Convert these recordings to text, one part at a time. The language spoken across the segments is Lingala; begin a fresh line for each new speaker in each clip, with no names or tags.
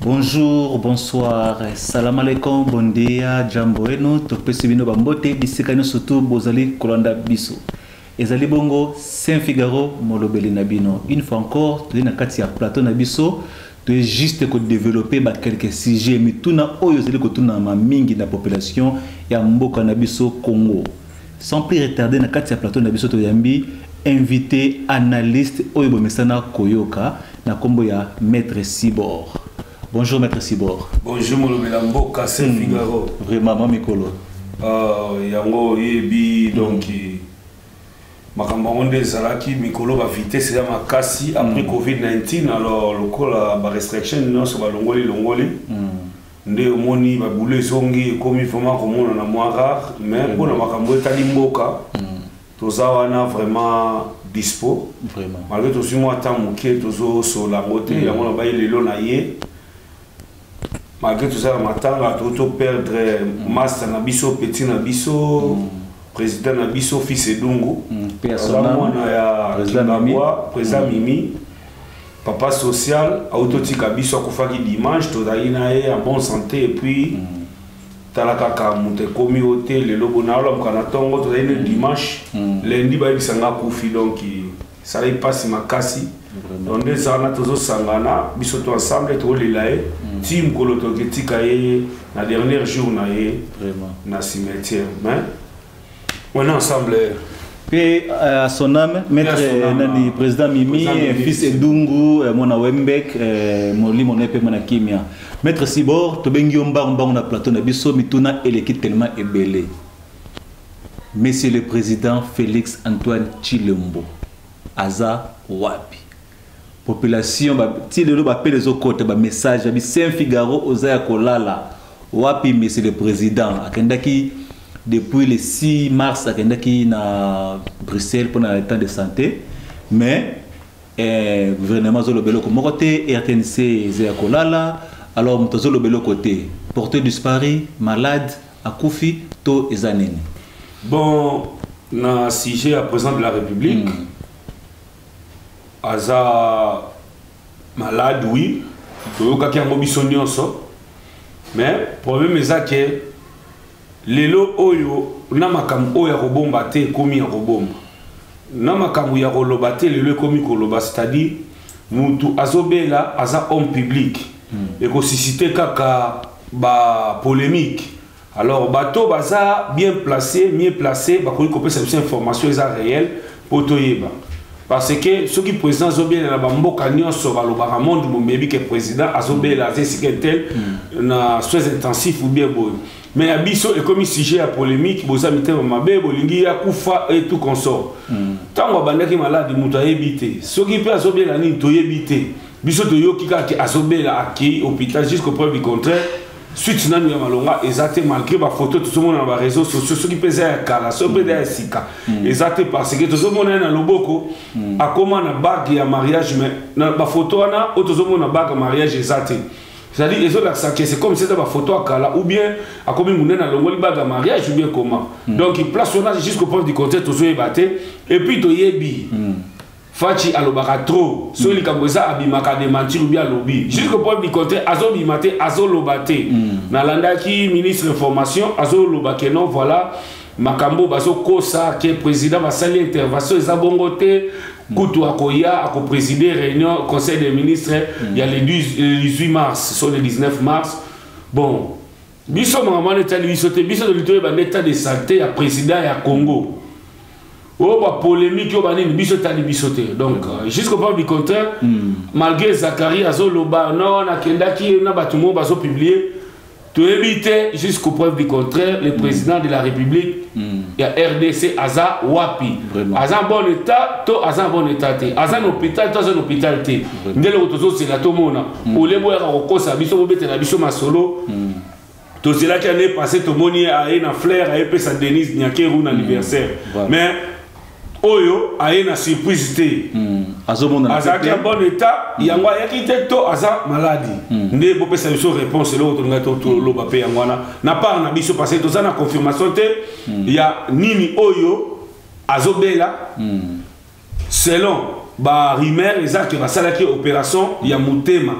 Bonjour, bonsoir, salam alaikum, bon dia, jambo eno, topesi bino bambote, bisika nyo surtout bozali kolanda biso. Ezali bongo Saint Figaro molobeli na bino. Une fois encore, toyei na kati ya plateau na biso, toye juste ko developper ba quelques sujets mituna oyo ezali kotunama mingi na population ya mboka na biso Congo sans plus retarder na kati ya plateau na biso toyambi invité analyste oyo bomesana koyoka na kombo ya maître Sibor bonjour maître Sibor bonjour molobela
mboka Saint hmm. Figaro vraiment mamikolo
euh
yango yebi donc hmm. makambo yango nde ezalaki mikolo ba vitesse eza makasi après mm. covid-19 alors lokola ba restriction nyonso balongoli longoli mm. nde omoni babule ezongi ekomi vraiment komonana mwa rare mais mpona mm. makambo etali mboka toza wana vraiment dispo malgré tozwi
mwa temps
moke tozosola yango te yango nabai lelo na ye malgré toza na matanga to to perdre mm. master na biso petit na biso mm. président na biso fils edungu mm. mwana ya kibabwa président mimi papa social auti otika biso akufaki dimanche tozalaki na ye ya bonne santé epuis tala kaka moto ekomi oyo te lelo bonaolamuka na ntongo tozali na dimanche lendi bayebisa nga akufi donki esalaki mpasi makasi donc nde eza wana tozosangana biso to ensemble tokolela ye mm. ti mokolo toketika ye na dernier jour na ye na
cimetière
mais on est ensemble mpe
euh, à son âme maître euh, nani président mimi euh, fils edungu mwana wembek molimo na ye mpe mwana kimia maître sibor tobengi yo mbangu mbangu na plateau na biso mituna eleki tellement ebele Monsieur le Président Félix Antoine Chilombo aza wapi population ti lelo bapele ezokota bamessage babi saint figaro oza ya kolala wapi monsieur le président akendaki depuis le 6 mars akendaki na bruxelles mpo na état de santé mais eh, gouvernement azoloba eloko moko te rtnc eza ya kolala alors moto azoloba eloko te porte disparu malade akufi to eza nini bon
na sujet ya président de la république mm. aza malade oui toyokaki yango biso nyonso mais problème eza ke lelo oyo na makambo oyo ya kobomba te ekomi ya kobomba na makambo ya koloba te lelo ekomi koloba c'est-à-dire mutu azobela aza homme public hmm. ekosisite kaka bapolémique alors bato baza bien placé mieux placé bakoki kopesa biso information eza réel mpo toyeba parce que soki président azobelela bamboka nyonso balobaka monde momebi ke président azobelela aza esika tel hmm. na soins intensif ou bien boye mais ya biso ekomi sujet ya polémique boza mitema mabe bolingi ya kufa et tout consort ntango hmm. abandaki maladi moto ayebi te soki mpe azobelela nini toyebi te biso toyoki kaka ke azobela akei hôpital jusqu'au preuve du contraire suite nanu ya malonga eza te malgré bafoto tozomona na bareseau sociaux soki mpe eza ya kala soki mpe eza ya sika mm. eza te parce que tozomona ye na loboko mm. akoma na bague ya mariage mais na bafoto wana oyo tozomona bague ya mariage eza te c'est-à-dire ezolakisa ke c'est comme seza bafoto ya kala ou bien akomi monene alongoli bague ya mariage ou bien comment mm. donc place wana jusqu'au point du contraire tozoyeba te et puis toyebi mm. Fatshi alobaka trop soki mm. likambo eza abimaka dementir ou bien alobi mm. jusqu'au point du contraire azobima te azoloba te mm. nalandaki ministre information azoloba ke non voilà makambo bazokosa ke président basali intervention eza bongo te kutu akoya akopreside réunion conseil des ministres ya le 18 mars so le 19 mars bon biso makambo wana etali biso te biso tolingi toyeba nde etat de santé ya président ya congo oyo oh, bapolémike oyo oh, banini biso etali biso te donc euh, jusqu'au preuve du contraire hmm. malgré zacharie azoloba no nakendaki na bato moko bazopublie toyebi te jusqu'au preuve du contraire le hmm. président de la république hmm. ya rdc aza wapi aza bon état to aza bon état te aza na hôpital to aza na hôpital te nde loko tozozela tomona mm. ole boyaka kokosa biso bobetela biso masolo mm. tozelaki année passé tomoni ye aye na flaire ayepesa denise nyakeru na mm. anniversaire mais oyo aye na surprise te azalaki ya bon état yango ayaki te to aza maladi nde bopesa biso réponse eloko tolingai toloba mpe yango wana na part na biso parce que toza na confirmation te ya nini oyo azobela selon ba rumeur eza ke basalaki operation ya motema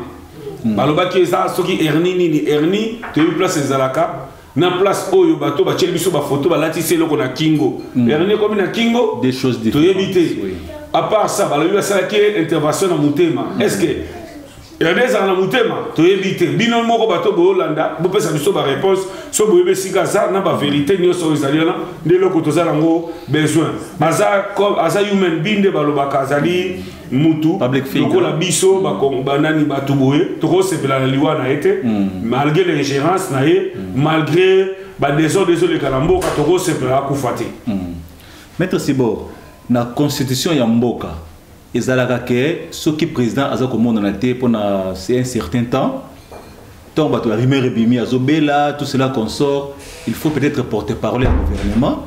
hmm. balobaki eza soki hernie nini hernie toyebi place ezalaka na place oyo bato batyeli biso bafoto balatisi eloko na kingo hmm. hernie ekomi na kingo toyebi
te
à part ça balobi basalaki intervention na motema est ce que Elanda ezala na motema toyebi te bino moko bato boyolanda bopesa biso bareponse so boyebi esika aza na baverité nyonso oyo ezali wana nde eloko toza nango besoin baza aza human being nde balobaka azali mutu lokola biso banani bato boye tokosepela na liwa na ye te hmm. malgré l'ingérence na ye hmm. malgré badésordre ezoleka na mboka tokosepela akufa te hmm. maître
sibor na constitution ya mboka ezalaka ke soki président aza komonana te mpo na c'est un certain temps ntango bato ya rumeur ebimi azobela tout cela consort il faut peut-être porte parole ya gouvernement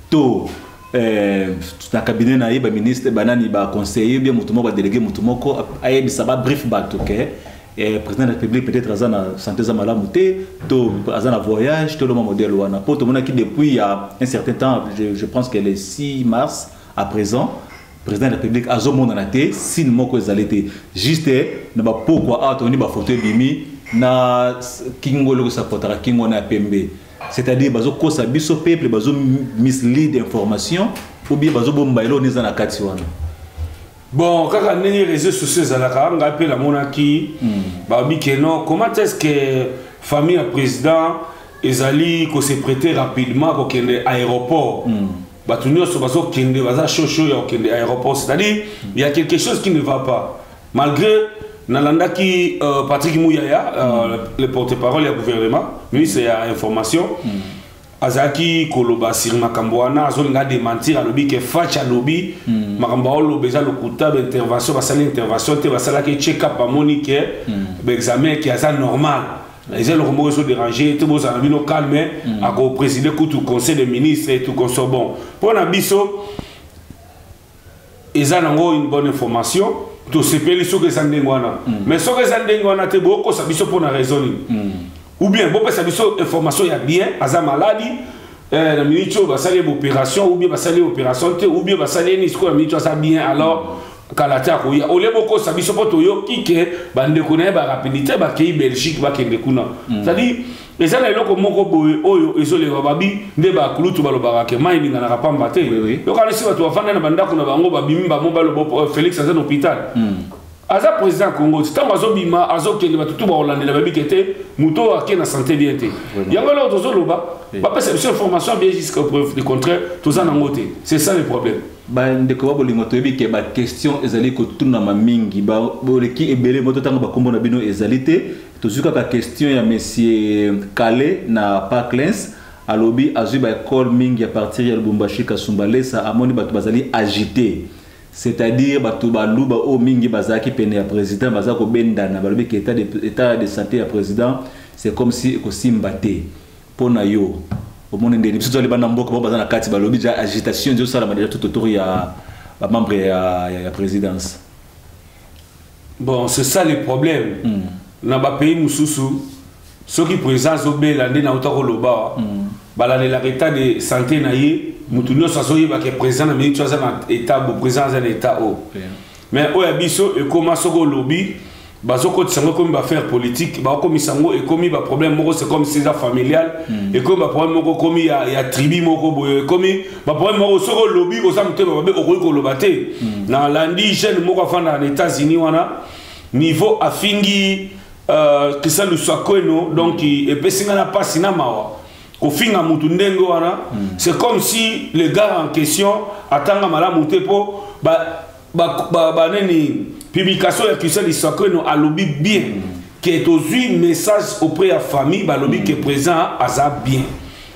to eh, na cabinet na ye baministre banani baconseiller bien moto moko badelege moto moko ayebisa babrief bato ke eh, président de la république peut-être aza na santé eza malamu te to aza na voyage to loma modèle wana mpo tomonaki depuis ya un certain temps je, je pense que le 6 mars à présent président de la république azomonana te sine moko ezali te juste na bapokwa awa tomoni bafoto ebimi na kingo eloko esapotaka kingo wana ya pembe c'est-à-dire bazokosa biso peuple bazo mislead information ou bien bazobomba eloko eza na kati wana bon
kaka ndenge réseau sociaux ezalaka ngai mpe namonaki hmm. babi ke non comment est ce que famille ya président ezali ko se prêter rapidement kokende aéroport mm. bato nyonso bazokende baza chaud chaud ya kokende aéroport c'est-à-dire il y a quelque chose qui ne va pas malgré nalandaki euh, patrick muyaya euh, mm. le porte-parole ya gouvernement ministre ya information mm. azalaki koloba sur makambo wana azolinga dementir alobi ke fac alobi mm. makambo aoloba eza lokuta baintervention basali intervention te basalaki check up bamoni ke mm. baexamen ke aza normal eza eloko moko ezo déranger te bozala na bino calme mm. akopreside kutu conseil de ministre et tout conso bon mpo na biso eza nango une bonne information tosepeli soki eza ndenge wana mm. mais soki eza ndenge wana te bokosa biso mpo na raison nini mm. ou bien bopesa biso information ya bien aza maladi eh, na miniti oyo basali ye baopération ou bien basali ye opération te ou bien basali ye nini sikoyo na miniti oyo aza bien alors mm. kala te akoya olie bokosa biso mpo toyoki ke bandeko na ye barapidite bakei belgique bakende kuna mm. cetadire eza na eloko moko boye oyo ezoleka babi nde bakulutu balobaka ke mai elinganaka pamba te yokanisi bato bafanda na bandako na bango babimi bango baloba oh, félix aza na hôpital mm. aza président ya congo ti ntango azobima azokende bato tu bakolandela babike te moto oyo ake na santé bien te yango eloko tozoloba bapesa biso information bien jusqu'au preuve de contraire toza nango te c'est ça le problème bandeko ba
bolingo toyebi ke baquestion ezali kotunama mingi boleki ebele moto ntango bakombo na bino ezali te tozwi kaka question ya monsieur kale na parklens alobi azwi baekole mingi ya partir ya lubumbashi kasumba lesa amoni bato bazali agite c'est-à-dire bato baluba oyo oh, mingi bazalaki pene ya président baza kobendana balobi ke état de santé ya président c'est comme si ekosimba te mpo na yo omoni ndeni biso tozali bana mboka bao baza na kati balobi deja agitation ezosalama deja tout autour ya bamembre ya, ya, ya présidence
bon c'est ça le problème mm. na bapays mosusu soki président azobela nde nauta koloba wa mm. balandelaka état de santé na ye moto nyonso azoyebaka président na miniti aza na état bo président aza na état oyo oh. yeah. mais oyo ya biso ekoma soki olobi bazokotisa yango ekomi baaffaire politique bakokomisa yango ekomi baproblème moko c'est comme sisa familial mm. ekomi baproblème moko ekomi ya, ya tribu moko boye ekomi baproblème moko soki olobi oza motema babe okoki koloba te mm. na landi jeune moko afanda na états-unis wana niveau afingi uh, euh, kisa lusakweno donc epesi ngai na mpasi na mawa kofinga mutu ndenge wana hmm. c'est comme si le gars en question atanga malamu te mpo banini publication ya christian lisakreno alobi bien hmm. ke tozwi message auprès ya famille balobi ke hmm. présent aza bien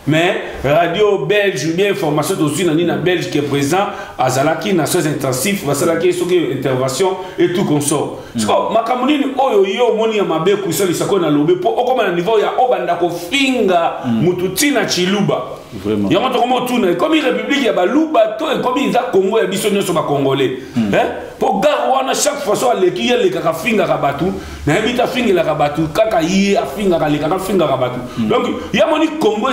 mais radio belge ou bien information tozwi na nini na belge ke présent azalaki na soins intensif basalaki soki intervention et tout consort Mm. sikoyo makambo nini oyo yo omoni ya mabe ekosalisa koyo nalobi mpo okoma na niveau ya obanda kofinga mm. motu ntina ciluba yango tokoma otuna ekomi république ya baluba to ekomi eza congo ya biso nyonso bacongolais mm. eh? mpo gare wana chaque fois so aleki ye alekaka afingaka bato nayebi te afingelaka bato kaka ye afingaka alekaka afingaka bato donc ye amoni congo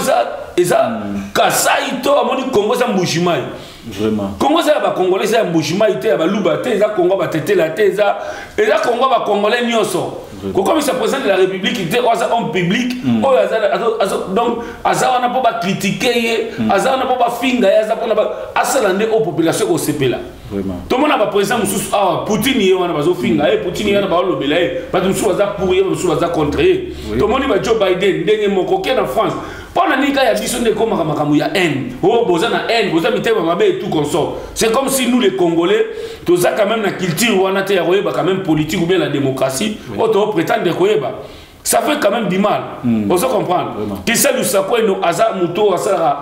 eza kasai to amoni congo eza mbujimai
Vraiment. Congo eza ya ba
congolais eza ya mbujimayi te ya baluba te eza congo batetela te eza eza congo ba congolais nyonso kokomisa président de la république te oyo aza homme public mm. oyo aza donc aza wana mpo bakritike ye mm. aza wana mpo bafinga ye aza mpona asala nde oyo population ekosepela tomona
baprésident
mosusu awa poutine ye wana bazofinga ye poutine ye wana baolobela ye bato mosusu baza pour ye basusu baza contre ye tomoni ba joe biden ndenge moko ke na france mpo na nini kaka ya biso nde ekomaka makambo ya haine o oh, boza na haine boza mitema mabe et tout consort c'est comme si nous les congolais toza quand même na culture wana te ya koyeba quand même politique ou bien la démocratie oyo oh, tooprétendre koyeba ça fait quand même du mal mm. ozo comprendre kiselu sakweno aza moto oyo asalaka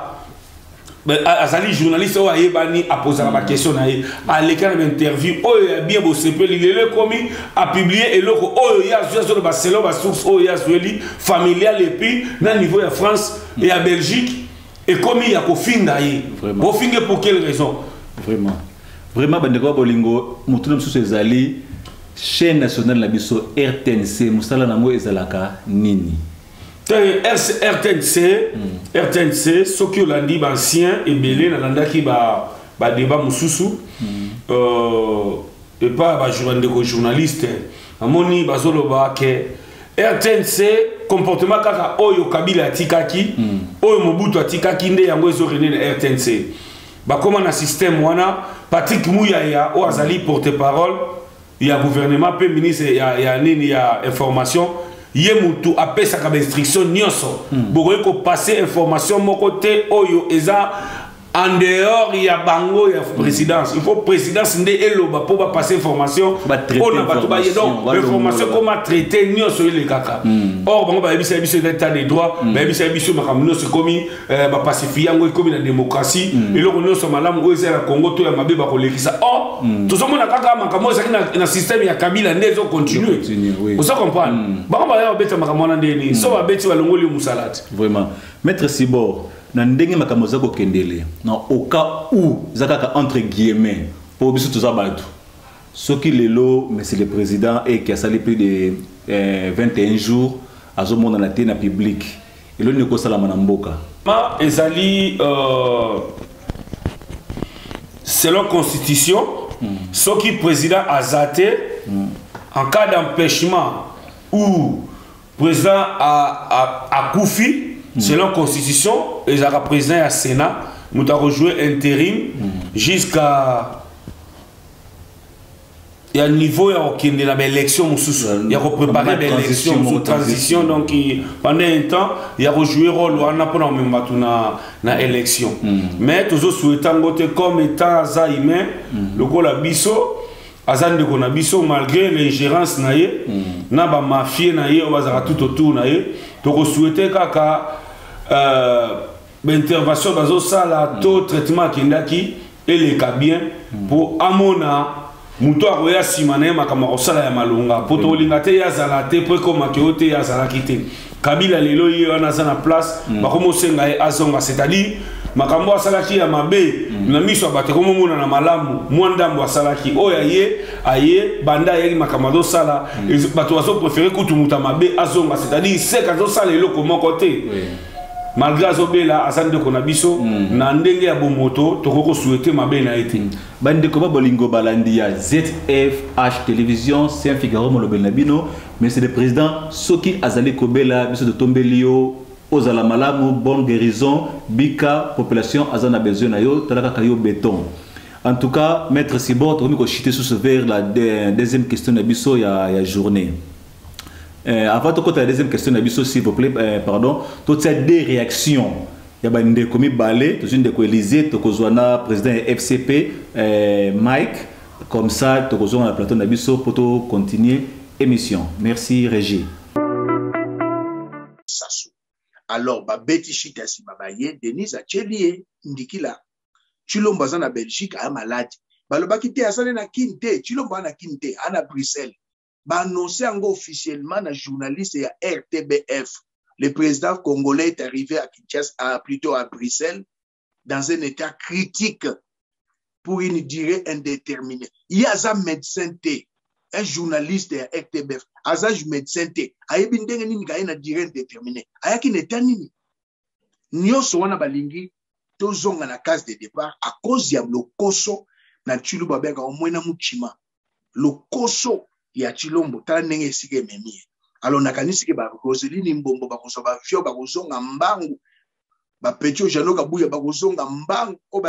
azali journaliste oyo ayebani apozaka bakestion na ye aleka na bainterview oyo ya bien bosepeli lelo ekomi apiblie eloko oyo ye azwi azoloba selon basource oyo ye azweli familial epuis na niveau ya france e ya belgique ekomi ya kofinga ye bofinge pour quelle raison vraiment
vraiment bandeko ya bolingo motuna mosusu ezali chaîne nationale na biso rtnc mosala na yango ezalaka nini rtnc rtnc soki olandi baancien ebele nalandaki badeba mosusu euh, epa bandeko journaliste namoni bazoloba ke rtnc comportement kaka oyo kabila atikaki hmm. oyo mobutu atikaki nde yango ezo rene na rtnc bakóma na système wana patrick muyaya oyo azali porte parole ya gouvernement mpe ministre ya, ya nini ya information ye mutu apesaka bainstruction nyonso mm. bokoki kopase information moko te oyo eza en dehors ya bango ya présidence il faut présidence nde eloba mpo bapase information mpo na bato baye donc information ekoma traité nyonso elekaka hmm. or bango bayebisa biso eza état de droit hmm. bayebisa biso makambo nyonso ekomi eh, bapasifi yango ekomi na demokrasi mm. eloko nyonso ya malamu oyo ezali na kongo to ya mabe bakolekisa o oh, mm. tozomona kaka makambo oyo ezalaki na, na systeme ya kabila nde ezocontinue oui. oza comprendre mm. bango baya babeta makambo wana ndeni mm. so babeti balongoli yo mosala te vraiment maître sibor na ndenge makambo oza kokendele na oka u eza kaka entre guillemets mpo biso toza bato soki lelo monsieur le président eke asali plus de eh, 21 jours azomonana te na publique eloni ekosalama na mboka ma ezali
euh, selon constitution mm. soki président aza te mm. en cas d'empêchement ou président akufi mm. selon constitution ezalaka président ya sénat moto akojouer intérim mm. jusqu'à Il y a un niveau ya kokende na baélection mosusu ya koprépare baélection mosusu transition donc pendant un temps ya kojouer rôle wana mpona komema bato na, na élection mm. mais tozosouhaite yango te comme état aza humain mm. lokola biso aza ndeko na biso malgré l'ingérence na ye mm. na bamafie na ye oyo bazalaka tout autour na ye tokosouhaite kaka euh, baintervention bazosala mm. to traitement akendaki eleka bien mpo mm. amona moto akoya nsima na ye makambo akosala ya malonga mpo mm. tokolinga te ye azala te mpo ekomaki oyo te ye azalaki te kabila lelo ye wana aza na place mm. bakomi osenga ye azonga c'est-à-dire makambo asalaki ya mabe mm. na miso ya bato ekomomona na malamu mwa ndambo asalaki oyo aye aye banda ayaki makambo azosala mm. bato bazoprefere kutu moto ya mabe azonga c'est-à-dire seke azosala eloko moko te malgré azobela aza ndeko na biso mm. na ndenge ya bomoto tokoki kosuete mabe na ye te mm. bandeko ba bolingo
balandi ya zfh télévision saint figaro molobeli na bino monsieur le président soki azali kobela biso totombeli yo ozala malamu bonne guérison bika population aza na besoin na yo tala kaka yo béton en tout cas maître sibor tokomi kochite susu vers la deuxième question na biso ya, ya journée Euh, avant tokota la deuxième question na biso s'il vous plaît euh, pardon totia deux réactions ya bandeko mibale tozwi ndeko élysée tokozwa na président ya fcp euh, mike comme ça tokozonga na plateau na biso mpo tocontinue émission merci régie
sasu alors babeti shita nsima baye denise atyeli ye ndikila tshilombo aza na belgique aya maladi balobaki te asali na kin te tshilombo aa na kin te aa na bruxelles ba annonce yango officiellement na journaliste ya RTBF le président congolais est arrivé à Kinshasa à, plutôt à Bruxelles dans un état critique pour une durée indéterminée ye aza médecin te un journaliste ya RTBF aza médecin te ayebi ndenge nini kaye na durée indéterminée ayaki na état nini nyonso wana balingi tozonga na case de départ à cause ya lokoso na tshilombo babengaka yango mwena muchima lokoso ya tshilombo tala ndenge esika ememi ye alors nakanisi ke ba roseline mbombo bakozwa bavio bakozonga mbangu bapeti oyo jano kabuya bakozonga mbangu oyo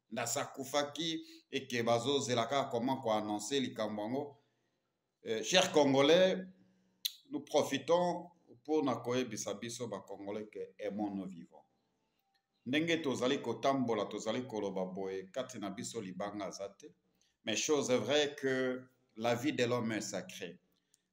ndasi akufaki eke bazozela kaka comment koannonce likambo yango eh, cher congolais nous profitons mpo na koyebisa biso bacongolais ke aimons nos vivants ndenge tozali kotambola tozali koloba boye kati na biso libanga aza te mais chose est vrai que la vie de l'homme est sacrée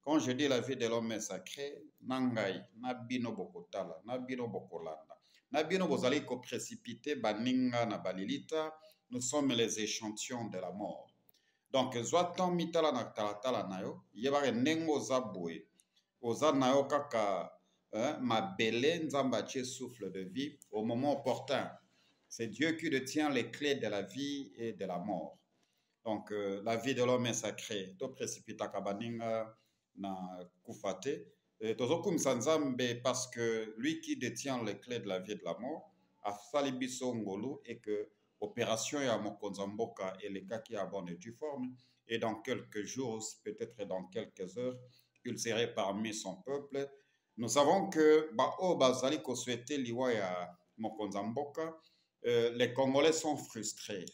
quand je dis la vie de l'homme est sacré na ngai na bino bokotala na bino bokolanda na bino bozali koprécipite baninga na balilita nous sommes les échantillons de la mort donc zwa temps mitala na talatala na yo yebaka ndenge oza boye oza na yo kaka eh, mabele nzambe atie souffle de vie au moment opportun c'est dieu qui detient les clés de la vie et de la mort donc euh, la vie de l'homme est sacré to précipitaka baninga na kufa te euh, tozokumisa nzambe parce que lui qui détient les clés de la vie de la mort asali biso ngolu et que opération ya mokonzi ya mboka elekaki à bonne et due forme et dans quelques jours peut-être dans quelques heures il serait parmi son peuple nous savons que baoyo bazali kosouhaite liwa ya mokonzi ya mboka euh, les congolais sont frustrés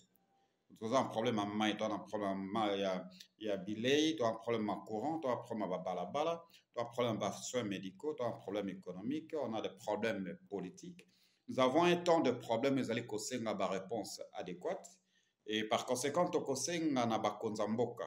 toza na problème ya mai toza na problème ya, ya bilei toza na problème ya courant toza na problème ya babalabala toza na problème ya basoins médicaux toza na problème économique on a des problèmes politiques nous avons un temps de problème ezali kosenga baréponse adéquate et par conséquent tokosenga na bakonza mboka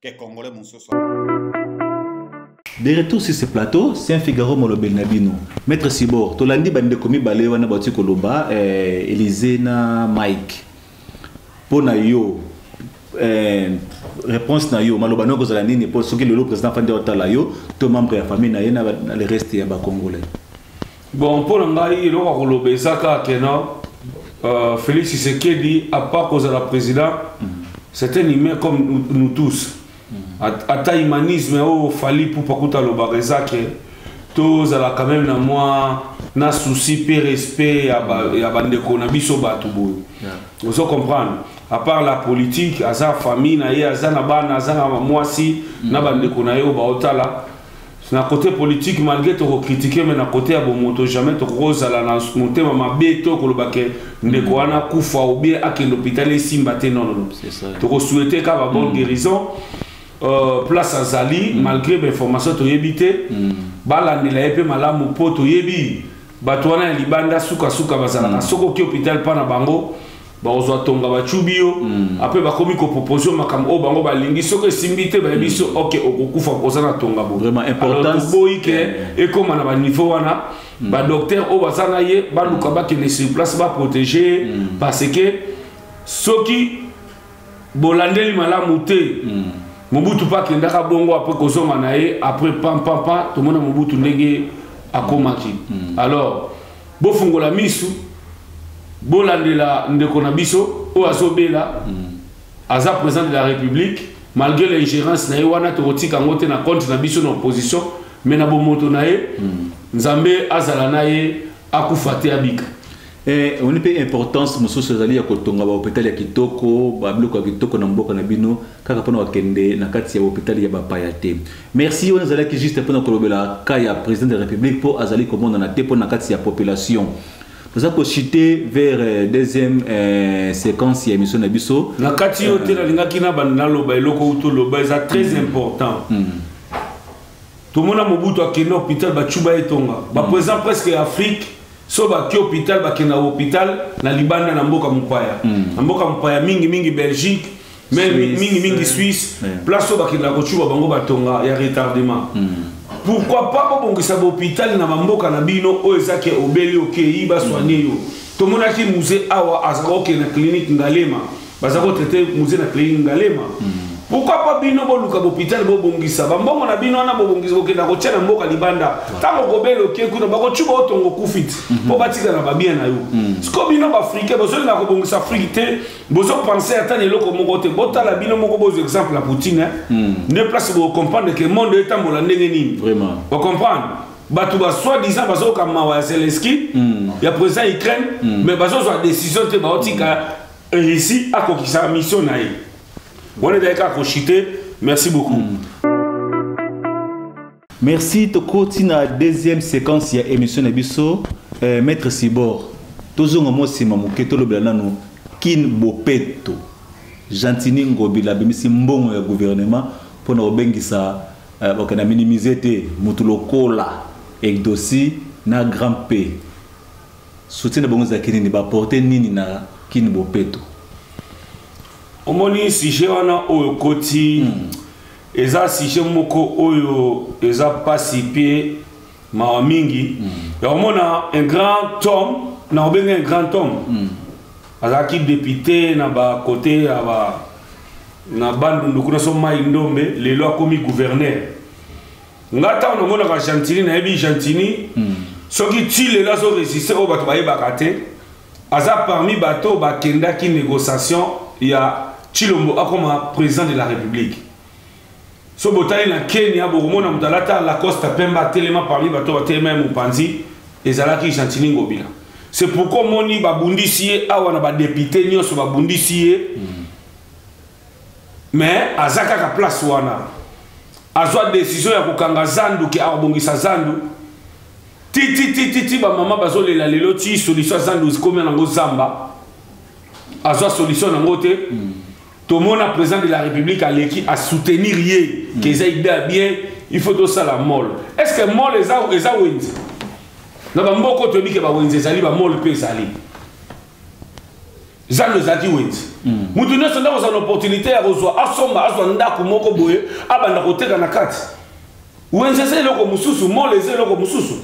que congolais mosusu
de retour sur ce plateau saint figaro molobeli na bino maître sibor tolandi bandeko mibale wana bauti koloba eh, elize na mike mpo na yo eh, réponse na yo maloba nayo kozala nini mpo soki lelo président afandi otala yo to membre ya famille na ye na le reste ya bacongolais bon mpo na ngai eloko
ya koloba eza kaka kena euh, félix tshisekedi apart kozala président mm. c'est un humain comme nous tous mm. ata humanisme oyo fali pupa kuta alobaka eza ke tozala quand même na mwa na souci mpe respect ya bandeko na biso bato boye ozo comprendre à part la politique aza famille na ye aza na bana aza na mwasi mm. na bandeko na ye oyo baotala na kote politiki malgre tokokritike me na kote ya bomoto jamais tokozala na motema mabe to koloba ke ndeko wana akufa obie akende hôpital esimba te nonono tokosuete kaka babon mm. guérison euh, place azali mm. malgre bainformation toyebi te mm. balandela ye mpe malamu mpo toyebi bato wana ya libanda sukasuka bazalaka soki oki hôpital mpa na bango bakozwa tonga bacubi yo mm. apres bakomi kopropose yo makambo oyo bango balingi soki esimbi te bayebi so mm. ok okokufa oza na tonga boboyi
ke eh.
ekóma na baniveau wana mm. badocteur oyo baza na ye baluka bakende sur place baprotege parce que soki bolandeli malamu te mobutu mpe akendaka bongo apres kozonga na ye apres pampampa tomona mobutu ndenge akomaki alors bofungola misu bolandela ndeko na biso oyo azobela mm. aza président de la république malgré l'ingérence na ye wana tokotika yango te na compte na biso na opposition mais na bomoto na ye mm. nzambe azala na ye akufa te abika Eh, oni mpe
importance mosusu ezali ya kotonga bahopitali ya kitoko babiloko ya kitoko na mboka na bino kaka mpona bakende na kati ya hopitali ya bapaya te Merci wana ezalaki juste mpo na kolobela cas ya président de la république mpo azali komonana te mpo na kati ya population toza kochute vers euh, deuxième euh, séquence ya émission na biso na kati yo te euh,
nalingaki na banda naloba eloko uto loba eza très mm. important mm. tomona mobutu akende hôpital bacuba etonga baprésident mm. presque ya afrique so baki hôpital bakenda hôpital na libanda na mboka mopaya mm. na mboka mopaya mingi mingi belgique Même mingi mingi Suisse, place où bakila kochuba bango batonga ya retardement. Hmm. Pourquoi pas bobongisa hôpital na bamboka na bino oyo ezaki obeli okeyi baswane yo. Tomonaki musée awa azaka oke na clinique Ngalema. Baza ko traiter musée na clinique Ngalema. Hmm. Pourquoi pas bino boluka hôpital bobongisa bambongo na bino wana bobongisa kokenda kotia na mboka libanda ntango kobeli oke kuna bakochuba otongo kufiti mpo hmm. batikala babien na yo siko bino baafrike bozolinga kobongisa afrike te bozo pense ata na eloko moko te botala bino moko bozwa exemple ya poutine hmm. nde place bocomprendre ke monde etambola ndenge nini bocomprendre bato basoi disant bazoyoka mawa ya zelenski hmm. ya président ya ukraine hmm. mais bazozwa décision te baotika russie akokisa mission na ye wana ezalaki kaka kochite merci beaucoup
Merci toko tina deuxième séquence ya émission na biso euh, maître Sibor tozonga mo sima moke tolobela nanu kin bopeto Gentini Ngobila bimisi mbongo ya gouvernement mpo na kobengisa euh, okay, na minimize te motu lokola Egdosi na Grand P soutien na bango ezalaki nini baporte nini na kin bopeto omoni
sujet wana oyo koti hmm. eza sujet moko oyo eza pasi pe mawa mingi mm. ya komona un grand homme na kobenga un grand homme mm. azalaki depute na bakote ya ba na bandundu kuna so mai ndombe lelo akomi gouverneur nga ntango namonaka gentini nayebi gentini mm. soki ti lelo azoresiste oyo bato bayebaka te aza parmi bato bakendaki négociation ya chilombo akoma président de la république so botali na kenya bokomona moto alata lacoste pembe atelema parmi bato batelema ye mopanzi ezalaki gentini ngobila c'est pourquoi omoni babundisi ye awa na badepute nyonso babundisi ye mm. mais aza kaka place wana azwa decision ya kokanga zandu ke akobongisa zandu tititititi bamama bazolela lelo ti solution ya zandu zikomi nango zamba azwa solution nango te hmm. tomona président de la république aleki asoutenir ye hmm. ke eza ide ya bien il faut tosala mol est ce que mol eza wenze na bamboko toyebi ke bawenze ezali bamol mpe ezali zando ezalaki wenze moto nyonso nde akozala na opportunité ya kozwa asomba azwa ndako moko boye abanda koteka na kati wenze eza eloko mosusu mole eza eloko mosusu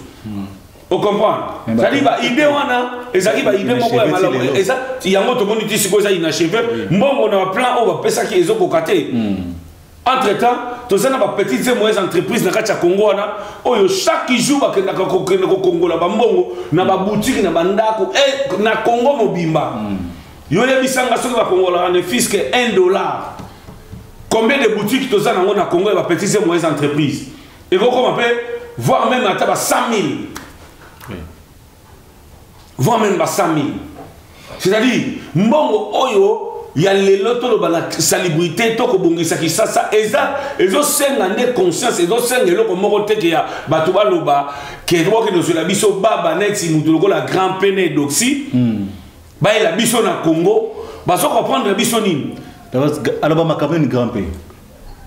ocomprendre zali baide wana ezalaki baide moko ya malamu eza yango tomoni ti sikoyo eza inacheve mbongo na baplan oyo bapesaki ezokoka te hmm. entre temps toza na ba petites et moyennes entreprises na kati ya congo wana oyo chaque jour bakendaka kokende kokongola bambongo na babutiki na bandako e na congo mobimba mm. yo yebisanga soki bakongolaka ne fiske 1 dollar combien de boutiques toza nango na congo ya ba petites et moyennes entreprises ekokoma mpe voire même ata ba 100 000 voire même ba 100 000 c'est-à-dire mbongo oyo ya lelo toloba na salubrité to kobongisa kisasa eza ezosenga nde conscience ezosenga eloko moko teke ya bato baloba ke bokende ozwela biso baba neti moto lokola grand pe na edoxi hmm. bayela biso na congo bazo comprendre biso nini aloba makambo
nini grand pe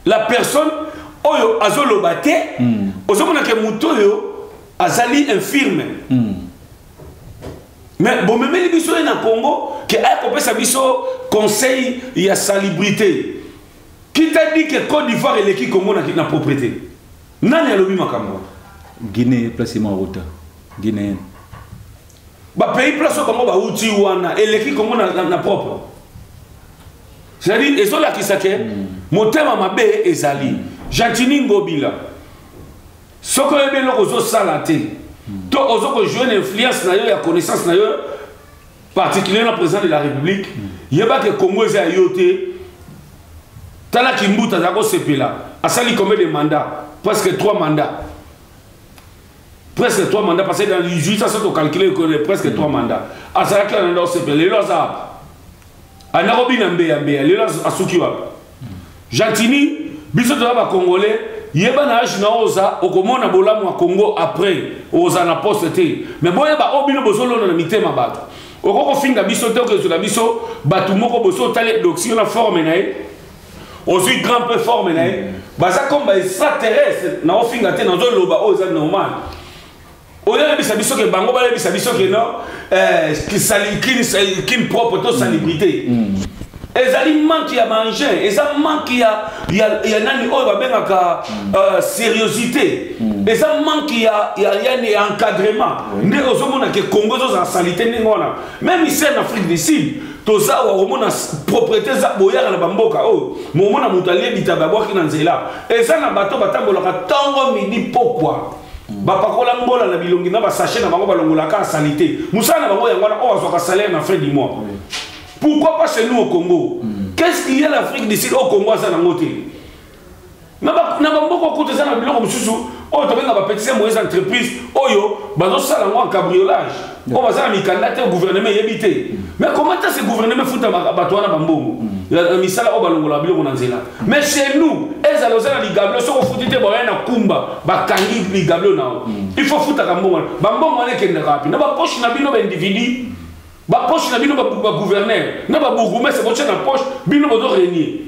la
personne oyo azoloba te hmm. ozomona ke moto oyo azali infirme mm. mais bomemeli biso ye na congo ke aya kopesa biso conseil ya salubrité qui t'a dit que côte d'ivoire eleki congo na, na propriété nani alobi makambo guinée
place ma rota guinéenne
bapays place oyo bango bauti wana eleki congo na, na, na propre c'est-à-dire ezolakisa ke mm. motema mabe ezali gentini ngobila soki oyebi eloko ozosala te to ozo kojue na influence na yo ya connaissance na yo particulier na président de la république yeba ke congo eza ya yo te tala kimbuta aza kosepela asali combien de mandat presque trois mandat presque trois mandat parce que dans 18 ans soki tocalcule presque trois mandat azalaki na nanda osepela lelo aza anda kobina mbeya mbeya lelo asuki wapi gentini biso toza bacongolais yeba na age na oza okomona bolamu ya congo après oza na poste te me boyeba oyo bino bozolona na mitema bato okoki kofinga biso te okezola biso bato moko boso otali edoxio na forme na ye ozwi grand peu forme na ye baza comme ba extraterrestre na ofinga te nazoloba oyo eza normal oyebisa biso ke bango bayebisa biso ke no eh, kin propre to salibrité mm. mm. ezali manque ya baengin eza manque ya, ya, ya nani oyo babengaka mm. uh, seriosité mm. eza manque ya, ya, ya, ya encadrement oui. nde ozomona ke congo ezozala salite ndenge wana même ici en afrique du sud toza wa komona propriété eza boyaka na bamboka oyo oh, momona moto alie bitaba abwaki na nzela eza na bato batambolaka ntongo midi pokwa bapakola ngola na bilongi na basashe na bango balongolaka salite mosala na bango yango wana oyo azwaka salaire na fin du mois pourquoi pas chez nous au congo mm. qu'est ce qu'il y a l'afrique du sud au congo aza nango te na bamboka okuta eza na biloko mosusu oyo tobenga bapetise moyes entreprise oyo bazosala yango en cabriolage mpo baza na mikanda te gouvernement eyebi te mais comment est ce gouvernement efuta bato wana bambongo na misala oyo balongolaka biloko na nzela mais chez nous ezala oza na ligablo soki ofuti te baoya na kumba bakangi ligablo na yo il faut ofutaka mbongo wana bambongo wana ekendaka wapi na bapoche na bino baindividu bapoche na bino bagouverneur na babourgoumestre botya na poche bino bozo renie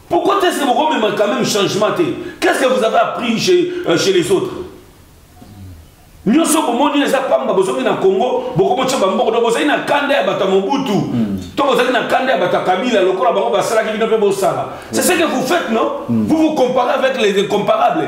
Pourquoi est-ce que vous remettez quand même changement Qu'est-ce que vous avez appris chez, euh, chez les autres nyonso bomoni eza pamba bozongi na congo bokomotya bamboko to bozali na kanda ya bato ya mobutu hmm. to bozali na kanda ya bato ya kabila lokola bango basalaki bino mpe bosala c'est ce que vous faites non hmm. vous vous comparez avec les incomparables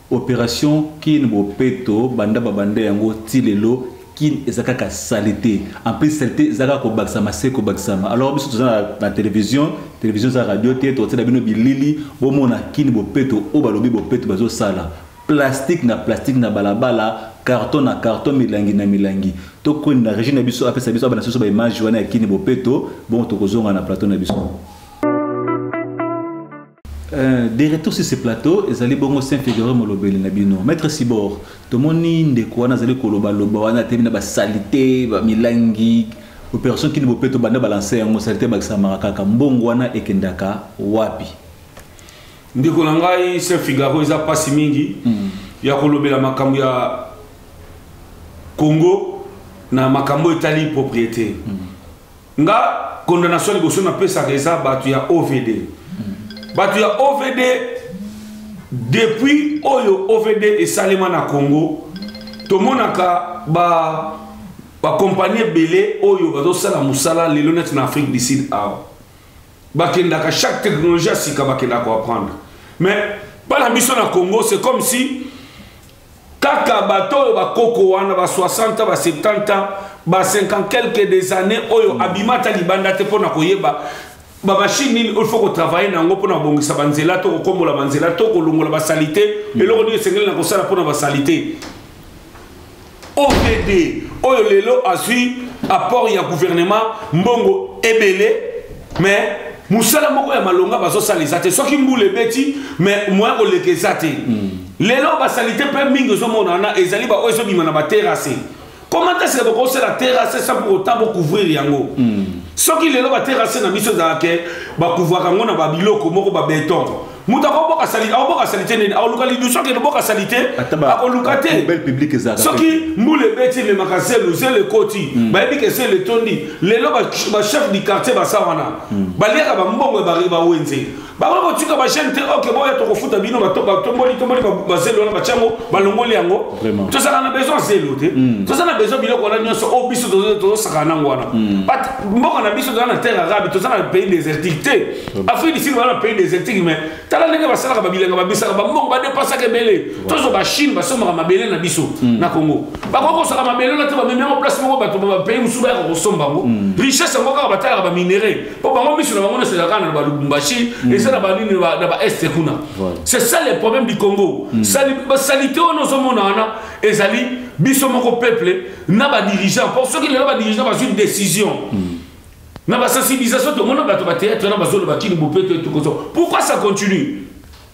Operation kin bopeto banda babanda yango ti lelo kin eza kaka salite en plus salite eza kaka kobakisama se kobakisama alors biso toza na, na television television eza radio te tokotiela bino bilili bomona kin bopeto oyo balobi bopeto bazosala plastique na plastique na balabala carton na carton milangi na milangi tokoni na régie na biso apesa biso abana biso baimage wana ya kini bopeto bongo tokozonga na plateau na biso Euh, de retour sur ce plateau ezali bongo saint figure molobeli na bino maître sibor tomoni ndeko wana azali kolobaloba wana atemi na basalite bamilangi opération kini bopeto banda balanse yango salite bakisamaka kaka mbongo wana ekendaka wapi
ndeko na ngai saint figaro eza mpasi mingi mm. ya kolobela makambo ya congo na makambo etali propriété mm. nga condamnation liboso napesaka eza bato ya ovd bato ya ovd depuis oyo ovd esalema na congo tomonaka ba bakompani ebele oyo bazosala mosala lelo neti na afrique du sud awa bakendaka chaque technologie ya sika bakendaka koapprendre mais mpa na biso na congo c'est comme si Kaka bato oyo bakoko wana ba 60 ans ba 70 ans ba 50 quelques des années oyo abima ata libanda te mpo na koyeba bamashine nini oyo faut kotravaille na yango mpona kobongisa banzela to kokombola banzela to kolongola basalite mm. eloko nini esengeli na kosala mpona basalite ovd oyo lelo azwi apport ya gouvernement mbongo ebele mais mosala moko ya malonga bazosala eza te soki mbula ebeti mais moya koleka eza te mm. Lelo ba salite pe mingi ozo mona na ezali ba oyo ezo bima na ba terrasse. Comment est-ce que boko sala terrasse sans pour autant bo couvrir yango? Mm. Soki lelo ba terrasse na biso za ke ba couvrir yango na ba biloko moko ba beton. Muta ko boka salite, au boka salite nini? Au luka lidu soki boka salite, ako luka te. Bel public za. Soki
mbule beti
me makaselu zele koti, mm. ba ebi ke sele tondi. Lelo ba ba chef du quartier ba sawana. Mm. Ba leka ba mbongo ba riba wenze. bakoki kotika bajeune te oke boya tokofuta bino batomboli tomboli bazelo wana batya yango balongoli yango tozalaka na besoin zelo te hmm. toza na besoin biloko wana nyonso oyo oh, biso tozosakana nango wana hmm. mboka na biso toza na terre arabe toza na pays désertique te hmm. afrique du sud baza na pays désertique mais tala ndenge basalaka babilanga babisaka bambongo badepasaka ebele tozo bachine basombaka mabele na biso na congo bakoki kosaka mabele wana te bamemi yango place moko bato bapays mosusu bayaka kosomba yango richesse yango kaka batalaka baminerai po bango miso na bango nyonso ezalaka na balubumbashi mm. eza na banini na baeste kuna c'est ça le problème du congo mm. basalite wana ozomona wana ezali biso moko peuple na badirigeant po soki lelo badirigeant bazwi décision mm. na basensibilisation tomona bato bateatre na bazoloba kini bopeto etukoso pourquoi ça continue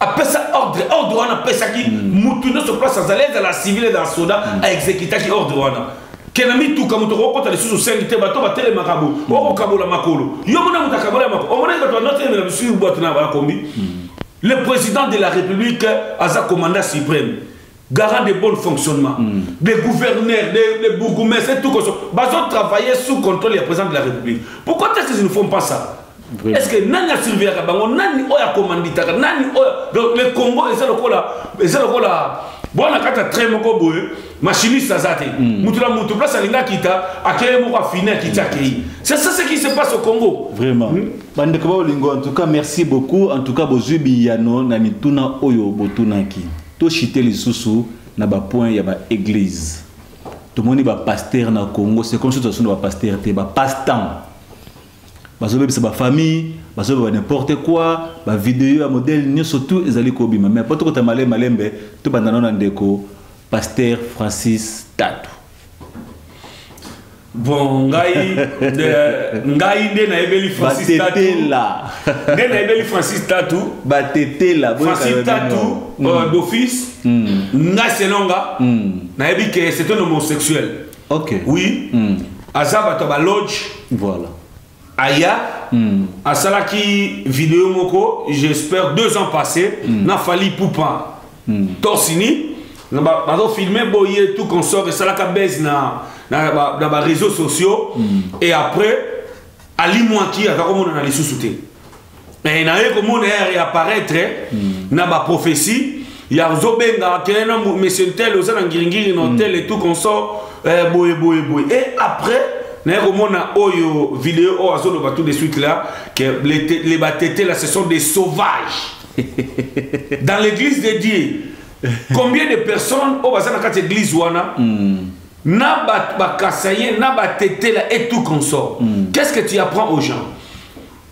apesa ordre ordre wana apesaki mm. mutu nyonso place azali ezala civil ezala soda mm. aexekitaki ordre wana kena mituka moto okokota lisusu sengi te bato batelemaka bo mm. okokabola makolo yo mona moto akabola makolo omonaki bato banotelemela bisusu bwato na bakombi le président de la république aza commandant suprême garant de bon fonctionnement mm. des gouverneurs des, des bourgoumestres tout koso bazo travailler sous contrôle ya président de la république pourquoi est-ce qu'ils ne font pas ça Vraiment. est-ce que nani asurveillaka bango nani oyo akomanditaka nani oyo donc le congo eza lokola eza lokola bwana kata trai moko boye machiniste aza te mm. mutu na mutu place alingi akita akeye moko afini akiti akei c'est ça ce qui se passe au congo vraiment mm.
bandeko baolingo en tout cas merci beaucoup en tout cas bozwi biyano na mituna oyo botunaki To chite lisusu na ba points ya ba eglises. Tomoni ba pasteurs na Congo, c'est comme si tozo ba pasteurs te, ba passe-temps. Bazo bebisa ba famille, bazo ba n'importe quoi, ba vidéos ya modèle nyoso tout ezali ko bima. Mais poto kota malembe malembe, to bandana na ndeko pasteur Francis Tatu.
bon ngai de, ngai nde nayebeli francis tatu nde nayebeli francis tatu batetela
francis tatu
mm. euh, d'office mm. ngai selonga mm. nayebi ke c'est un homosexuel okay. oui
mm.
aza bato ya baloge voilà
aya
mm. asalaki video moko j'espère deux ans passé mm. na fali poupa mm. torsini bazofilme boye tout consort esalaka base na, na, na, na bareseau sociaux mm. et après alimwaki aza komonana lisusu te eh, naye komona ya réapparaître hmm. na ba prophétie ya ozobenga kele na monsieur ntel oza na ngiringiri na hotel hmm. et tout consort eh, boye boye boye et après naye komona oyo video oyo azoloba tout de suite là que les, les batete là ce sont des sauvages dans l'église de dieu combien de personnes oyo baza na kati église wana hmm. na bakasaye na batetela et tout consort hmm. qu'est ce que tu apprends aux gens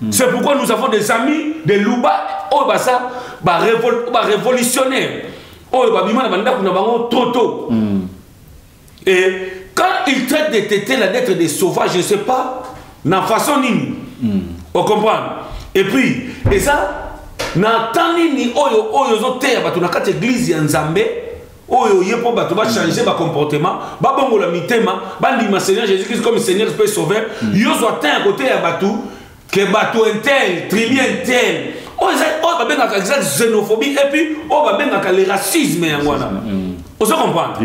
Mm. C'est pourquoi nous avons des amis, des louba, oh bah ça, bah, révol bah révolutionnaires, oh bah bima na banda kuna bango trop tôt. Mm. Et quand ils traitent des tétés là d'être des sauvages, je ne sais pas, na façon nini. Mm. On comprend. Et puis, et ça, na temps nini oyo oyo zo teya batu na kati église ya Nzambe, oyo ye mpo bato bachange bacomportement babongola mitema bandima seigneur jésus christ comme seigneur mpe sauveur mm. yo zwa temps ya koteya bato ke bato intel tribu intel oyo eza oyo babengaka eza xénophobie et puis oyo babengaka le racisme yango wana mm. ozo comprendre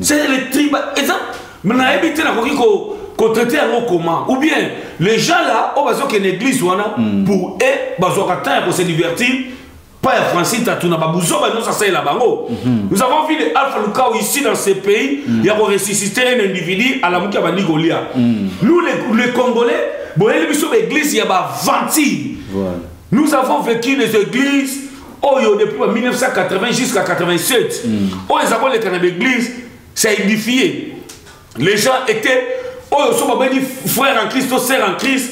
c'est le
tribal
eza nayebi te nakoki ko kotraite yango comment ou bien les gens là oyo bazokende église wana mm. pour e bazwaka temps ya kose divertir pas ya francine tatuna babuzoba nyonso asalela bango mhm. nous avons vu de alpha lukau ici dans ce pays mhm. ya koressuscite un individu alamuki abandi kolia mhm. nous les congolais boyeli biso baeglise ya baventure nous avons vécu les églises oyo depuis 1980 jusqu'à 87 oyo eza koleka na baeglise ça édifie les gens étaient oyo so babengi frère en christ to sœur en christ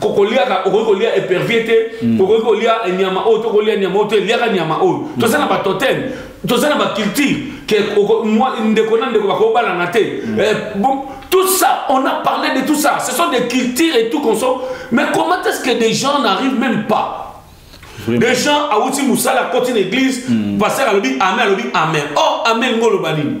kokoliaka okoki kolia epervie te mm. okoki kolia nyama oyo tokolia nyama oyo te eliaka nyama oyo mm. toza na batotem toza na baculture ke ndeko na ndeko bakobalana te mm. eh, tout ça on a parlé de tout ça ce sont des cultures et tout qu'on sort mais comment est ce que des gens n'arrivent même pas des gens awuti mosala akoti na église paster alobi amen alobi amen or amen ngo oloba nini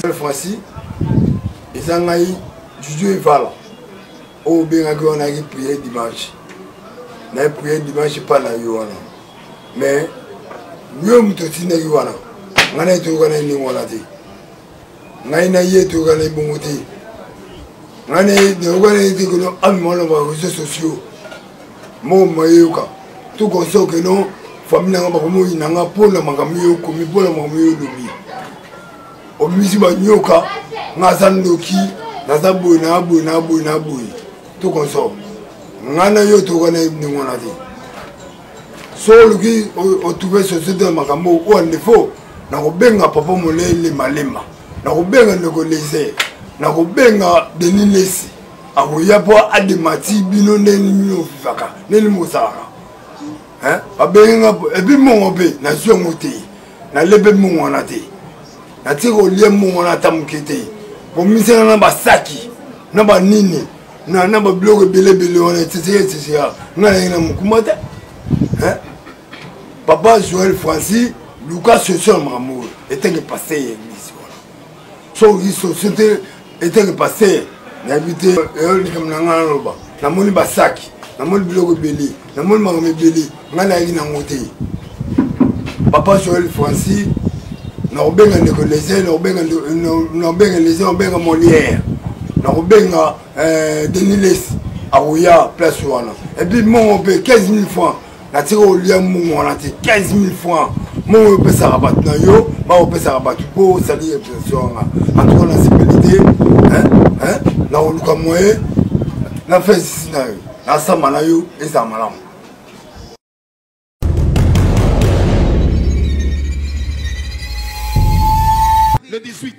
cette fois-ci eza ngai juju evala oyo oh, obengaki wana yaki priere dimanche naye priere dimanche epa na yo wana mais yo moto otindaki wana ngai naye toyokana ye ndenge wana te ngai na ye toyokana ye bongo te ngai naye nayokana ye te kono amimaloba réseau sociaux moko mayeyoka tout conscient que non famille nanga bakomoyina nga mpo na makambo yo okomi mpo na makambo yo olobi obimisi banyoka nga aza ndoki naza boye na boye na boye na boye tout conscient nga na yo tokoka na ndenge wana te so oluki otrouve société ya makambo oyo andefo nakobenga papa molele malema nakobenga ndeko lese nakobenga denis lesi akoya mpo ademati bino ndenge bino ofifaka ndenge mosalaka babengi nga epuis mbongo mpe nazwi yango te nalepe mbongo wana te natie kolia mbongo wana ata moke te komisana na basaki na banini na babiloko ebele ebele wana eteseka eteseka nga naye na mokuma te papa joel francis luka solution ya makambo oyo etenge passe ye so société eteke pasteur nayebi te eyo likambo na ngai naloba namoni basaki namoni biloko ebele namoni makambo ebele ngai nayaki nango te papa joel francis nakobenga ndeko lese nakobenga lese nakobenga molière nakobenga euh, denis les akoya place wana epuis mongo mpe 15 000 francs natika olia mbongo wana te 15000 franc mbongo oyo opesaka bato na yo bakopesaka bato mpo osali impression yanga antuka na sepeli te nakoluka moye na fesisi na yo nasamba na yo ezala malamu le 18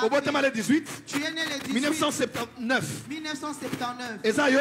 obotama
le 18 1979
eza yo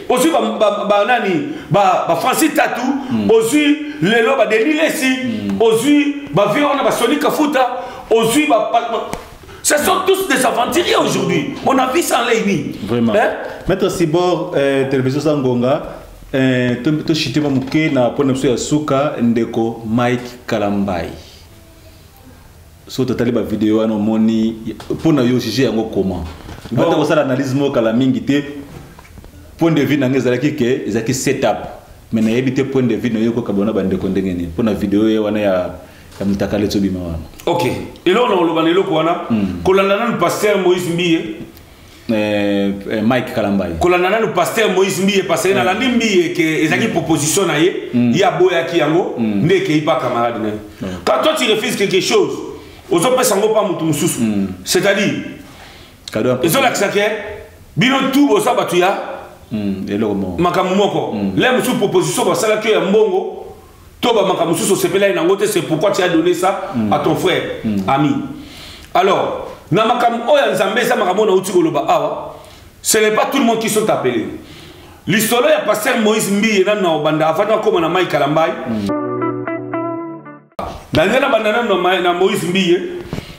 ozwi banani bafranci tatu hmm. ozwi lelo badeni lesi hmm. ozwi bavie wana basoni kafuta ozwi Ce sont tous des aventuriers aujourd'hui. On a vu ça en Lémi. Vraiment. Hein? Maître
Sibor, euh, télévision Sangonga, euh, tu as chité mon mouké, na pona moussou ya souka, ndeko Mike Kalambaye. soki totali bavideo wana omoni mpo na yo juge yango comment bata kosala analyse moko kala mingi te point de vue na ngai ezalaki ke ezalaki setup me nayebi te point de vue na yo ekoka bona bandeko ndenge nini mpo na video ye wana ya ya motakale tobima
wana ok eloko na koloba na eloko wana hmm. kolanda nanu paster moïse mbiye Euh,
euh, mike kalambai kolanda nanu paster
moïse mbiye paseke nalandi mm. mbiye ke ezalaki mm. proposition na ye mm. ye aboyaki yango nde ekei pa camarade na ye quand toi tu refuses quelque chose ozopesa yango mpa moto mosusu c'est-à-dire ezolakisa ke bino tu boza bato ya makambo moko le mosusu proposition basalaki yo ya mbongo to ba makambo mosusu osepelaki nango te c'est pourquoi tu as donné ça mm. à ton frère mm. ami alors na makambo oyo ya nzambe eza makambo oyo nauti koloba awa ce n'est pas tout le monde qui sont appelé lisolo ya pasteur moïse mbiye nanu na obanda afandi akoma na mai kalambai mm. nalinga nabanda nanu na moïse mbiye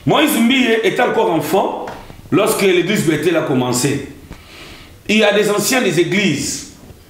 moïse mbiye est encore enfant lorsque l'église betele a commencé il y a des anciens des églises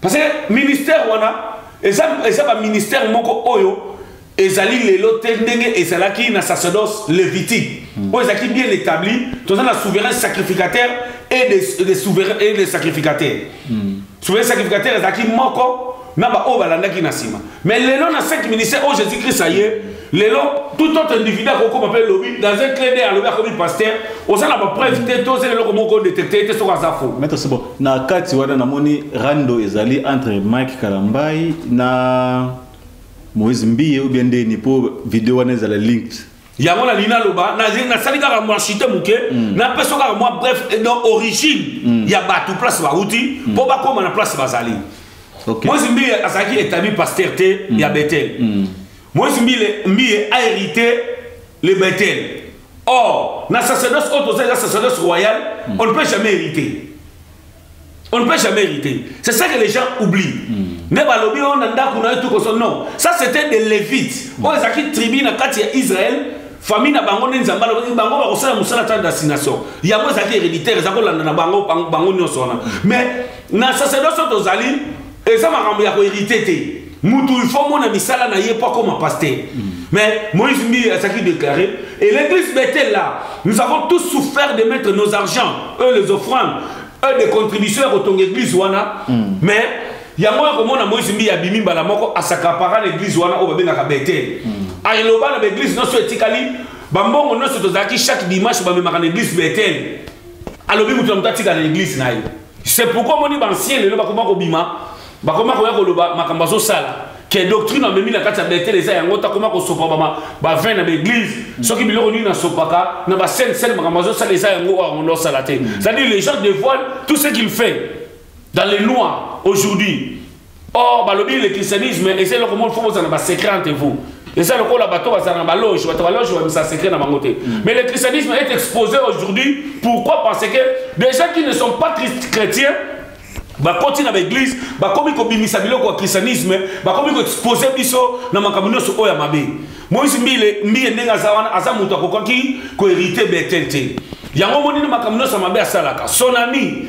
parce que ministère wana eza eza ba ministère moko oyo ezali lelo te ndenge ezalaki na sacerdoce levitique hmm. oyo ezalaki bien établi toza na souverain sacrificateur et des, des souverains et des sacrificateurs hmm. souverain sacrificateur ezalaki moko na baoyo balandaki na nsima mais lelo na 5 ministère oyo jésus christ aye lelo tout autre individu akokoma mpe lobi dans un clé de alobi akomi pasteur oza na bapreuve te to ozela eloko moko odetecte ye te soki aza fo maître sebo na
kati wana namoni rando ezali entre mike kalambai na moïse mbiye ou bien ndeni mpo video wana ezala linked yango nalingi
naloba nasali kaka mwa chute moke mm. napeso kaka mwa bref eh, no origine mm. ya bato place bauti mpo mm. bakóma na place bazali moïse mbiye azalaki établi pasteur te ya betel Moïse Mbile, Mbiye a hérité le Bethel. Or, na sacerdoce haute aux la sacerdoce royale, mm. on ne peut jamais hériter. On ne peut jamais hériter. C'est ça que les gens oublient. Mais hmm. balobi on a ndaku na tout comme non. Ça c'était des Lévites. Mm. On les a qui tribu na kati ya Israël, famille na bango ne nzamba lobi bango ba kosala musala ta destination. Ya mo ezaki héréditaire, ezako landa na bango bango nyoso wana. Hmm. Mais na sacerdoce haute aux eza makambo ya koherite te mutu il faut mona misala na ye mpo akoma pasteur mm. mais moïse mbi azalaki déclaré et l'église bethel là nous avons tous souffert de mettre nos argents eux les offrandes eux des contributions ya kotonga église wana mm. mais yango ya komona moïse mbi abimi mbala moko asakapara na église wana oyo babengaka bethel mm. aloba na baeglise nyonso etikali bambongo nyonso tozalaki chaque dimanche bamemaka na église bethel alobi moto na moto atika na église na ye c'est pourquoi omoni bancien lelo bakoma kobima bakoma koya koloba makambo azosala ke doctrine amemi na kati ya betele eza yango takoma kosopa bavin na baeglise mm. soki biloko nini nasopaka na basene sene makambo azosala eza yango oyo yango ndosala te mm. c'est-à-dire les gens dévoilent tout ce qu'il fait dans les lois aujourd'hui or balobi le christianisme eza eloko moko fo bozala na basecret entre vous eza lokola bato bazala na baloge bato baloge babimisa secret na bango te mm. mais le christianisme est exposé aujourd'hui pourquoi parce que des gens qui ne sont pas chrétiens bakoti na baeglise bakomi kobimisa biloko ya christianisme bakomi koexpose biso na makambo nyonso oyo ya mabe moïse mbile mbiye ndenge aza wana aza moto akokaki koherite betel te yango monini makambo nyonso ya mabe asalaka sonami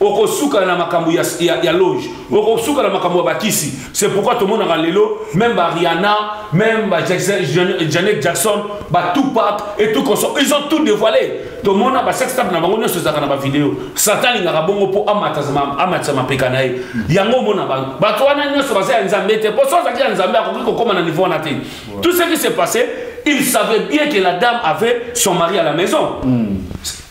okosuka na makambo ya, ya, ya loge okosuka na makambo ya bakisi c'est pourquoi tomonaka lelo même bariana même ba janet jackson batupak et tout conso ils ont tout dévoilé tomona basextape na bango nyonso ezalaka na bavideo satan alingaka bongo mpo amatisa mapeka na ye yango omona bango bato wana nyonso baza ya nzambe te mpo so azalaki ya nzambe akoki kokóma na niveau wana te tout ce qui s'est passé il savait bien que la dame avait son mari à la maison mm.